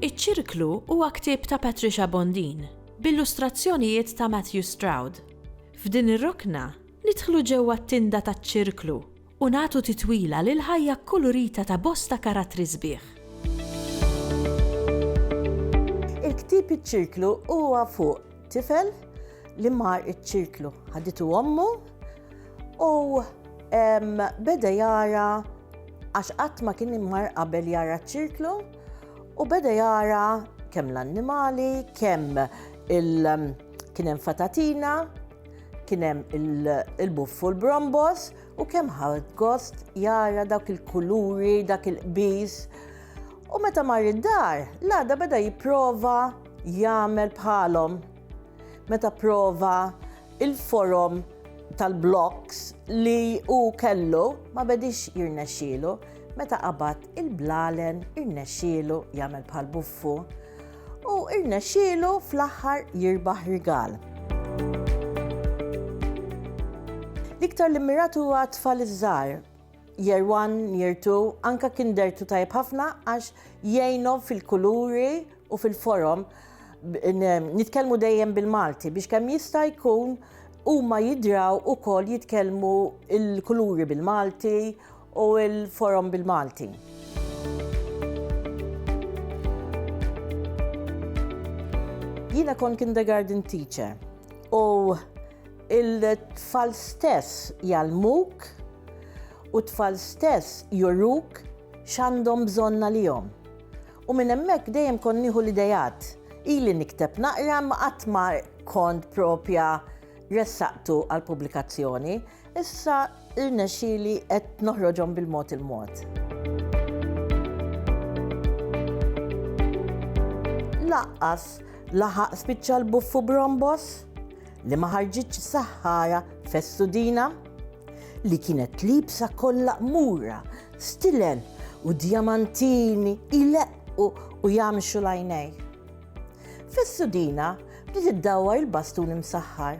Iċ-Ċirklu huwa ktieb ta' Patricia Bondin, b'illustrazzjonijiet ta' Matthew Stroud. F'din ir-rokna, nidħlu ġewwa t-tinda taċ-Ċirklu u nagħtu titwila lill-ħajja kkulurita ta' bosta karattri sbieħ. Il-ktieb Iċ-Ċirklu huwa fuq tifel li mar iċ-ċirklu. Ħaditu ommu u beda jara għax qatt ma kien immar qabel jara ċ-ċirklu u beda jara kemm l-annimali, kemm il- kien hemm fatatina, kien hemm il-buffu l-brombos U kemm ħadd gost jara dak il-kuluri, dak il-qbis. U meta mar id-dar, l-għada beda jipprova jagħmel bħalhom. Meta prova il-forom tal-bloks li hu kellu ma bedix jirnexxielu, meta qabad il-blalen irnexxielu jagħmel bħal buffu. u irnexxielu fl-aħħar jirbaħ rigal. L-iktar li mmiratu huwa tfal iż-żgħar. Year one, year two, anka kien dertu tajb ħafna għax jgħinhom fil-kuluri u fil-forom. Nitkellmu dejjem bil-Malti biex kemm jista' jkun huma jidraw ukoll jitkellmu il-kuluri bil-Malti u l-forom bil-Malti. Jiena kont kindergarten teacher u il-tfal stess jalmuk u tfal stess juruk x'għandhom bżonn għalihom. U minn hemmhekk dejjem kont nieħu l-idejat. Ili nikteb naqra ma qatt ma kont propja ressaqtu għal pubblikazzjoni, issa Irnexxieli qed noħroġhom bil-mod il-mod. Laqqas laħaq spiċċa l-buffu brombos li ma ħarġitx saħħara fessudina li kienet libsa kollha qmura, stilen u djamantini ileqqu u jamxu lajnej. Fessudina bdiet iddawwar il-bastun imsaħħar.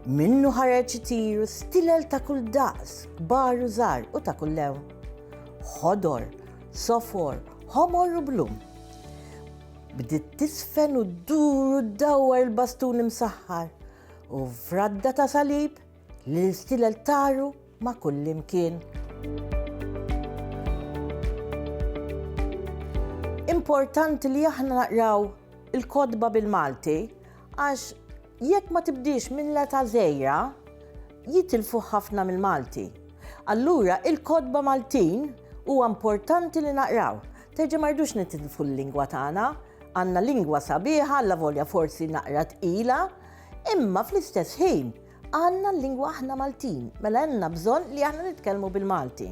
Minnu ħareġ itiru stilel ta' kull daqs, kbar u żgħar u ta' kull lew. Ħodor, sofor, ħomor u blum. Bdiet tisfen u ddur u dawwar il-bastun imsaħħar u fradda ta' salib li l-istilel taru ma' kull imkien. Importanti li aħna naqraw il-kodba bil-Malti għax Jekk ma tibdiex minn l-età żgħira, jitilfu ħafna mill-Malti. Allura il-kotba Maltin huwa importanti li naqraw. Terġa' ma rridux nitilfu l-lingwa tagħna. Għandna lingwa sabiħa allavolja forsi naqra tqila, imma fl-istess ħin għandna l-lingwa aħna Maltin, mela għandna bżonn li aħna nitkellmu bil-Malti.